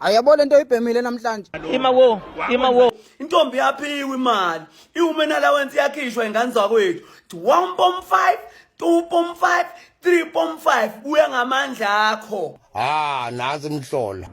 ayabo lento oyibhemile namhlanje ima wo ima wo intombi yaphiwa imali iwomen allowance yakhishwa ingane zakwethu 1.5 2.5 3.5 buya ngamandla akho ah nazi imhlola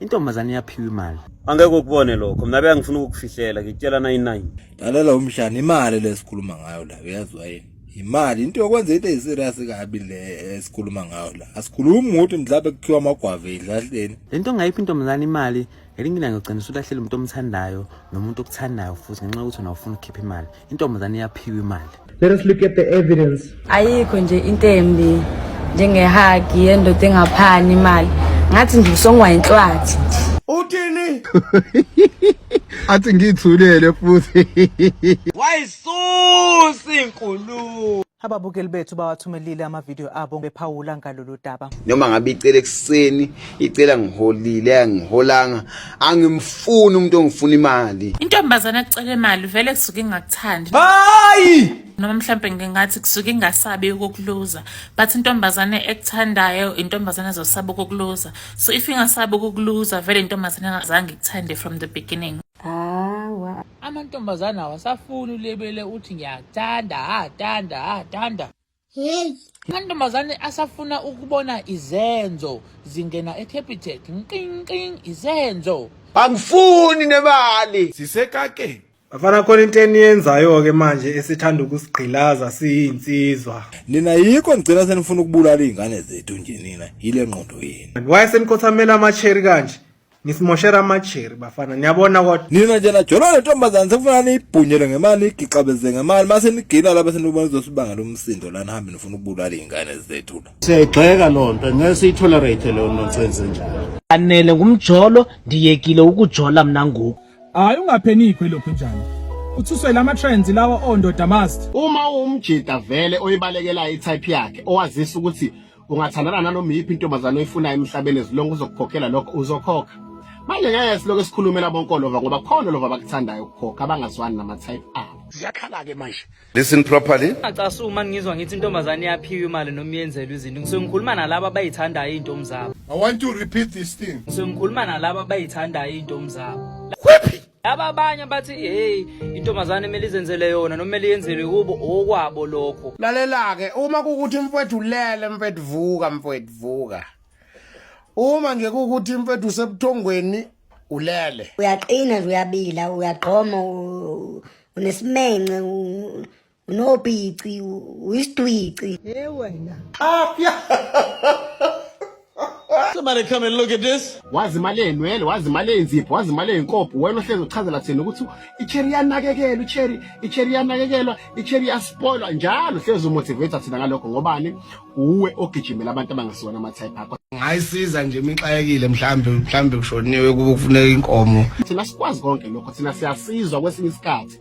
intombazane yaphiwa imali angeke ukubone lokho mina bengifuna ukukufihlela ngikutshela 99 dalela umhlana imali lesikhuluma ngayo la uyaziwa yini yimali into yokwenza into eyiserious kabi le esikhuluma ngayo la asikhulumi ngokuthi mhlawumbe kukhiwa amagwava edlahleni le nto ongayiphi intombazane imali ngelinye ilanga ugcina usulahlele umuntu omthandayo nomuntu okuthandayo futhi ngenxa yokuthi wena ufuna ukukhipha imali intombazane iyaphiwa imali let us look at the evidence ayikho nje into embi njengehagi yendoda engaphani imali ngathi nje usongwa inhlwathi uthini athi ngithulele futhi Susi nkulu. Ababukeli bethu bawathumelile amavidiyo abo bephawula ngalolu daba. Noma ngabe icela ekuseni, icela ngiholile, angiholanga, angimfuni umuntu ongifuna imali. Intombazana ecela imali vele kusuke ingakuthandi. Hayi! Noma mhlambe ngingathi kusuke ingasabi ukukuluza, but intombazane ekuthandayo intombazane ezosaba ukukuluza. So if ingasabi ukukuluza vele intombazane engazange ikuthande from the beginning. amantombazane awasafuni ulebele uthi ngiyakuthanda athanda athanda hey amantombazane asafuna ukubona izenzo zingena ecapital nqinqin izenzo angifuni nemali sisekakeni bafana khona into eniyenzayo-ke manje esithanda ukusigqilaza siyinsizwa nina yikho nigcina senifuna ukubulala iy'ngane zethu nje nina yile ngqondo yenu wayesenikothamela amacheri kanje Nisimoshela amajeri bafana niyabona kodwa. Nina nje najolo lentombazane sekufuna niyibhunyele ngemali igixabeze ngemali mase nigila laba senibona izosibanga lomsindo lana hambe nifuna ukubulala izingane zethu la. Siyayigxeka lonto ngeke siyitolerate leyo nonsense njalo. Anele ngumjolo ndiyekile ukujola mina ngoku. Hayi ungaphenikho lokhu njani. Uthuswe lama trends lawa ondoda must. Uma umjita vele oyibalekelayo itype yakhe owazisa ukuthi ungathandana nanoma iyiphi intombazane oyifunayo emhlabeni ezilonge uzokukhokhela lokho uzokhokha manje ngeke siloke sikhulumela bonkolova ngoba khona lova abakuthandayo ukukhokha abangazwani nama-type abo ziyakhala-ke manje listen properly acasuka uma ngizwa ngithi intombazane yaphiwa imali noma yenzelwe izinto ngisuke ngikhuluma nalabo abayithandayo iy'ntomi zabo i want to repeat this thing ngisuke ngikhuluma nalabo abayithandayo iy'ntomi zabo Laba abanye bathi hey intombazane kumele izenzele yona noma kumele yenzelwe kubo okwabo lokho. Lalela-ke uma kukuthi mfwethu ulele mfwethu vuka mfwethu vuka. Uma nje kukuthi mfwethu usebuthongweni ulele. Uyaqina nje uyabila uyagqoma u- unesimence u- Unopici, uyisitwici. Hey wena. Ah, Somebody come and look at this. Wazi imali enwele, wazi imali enzipho, wazi imali enkopho. Wena ohlezi uchazela thina ukuthi icherry yanakekelwa, icherry, icherry yanakekelwa, icherry yaspoilwa njalo. Hlezi umotivate thina ngalokho ngobani? Uwe ogijimela abantu abangasiwona ama type akho. Ngayisiza nje imixayekile mhlambe mhlambe kushoniwe kufuneka inkomo. Thina sikwazi konke lokho, thina siyasizwa kwesinye isikhathi.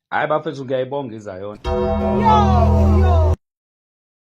hayi bafethu ngiyayibonga izayona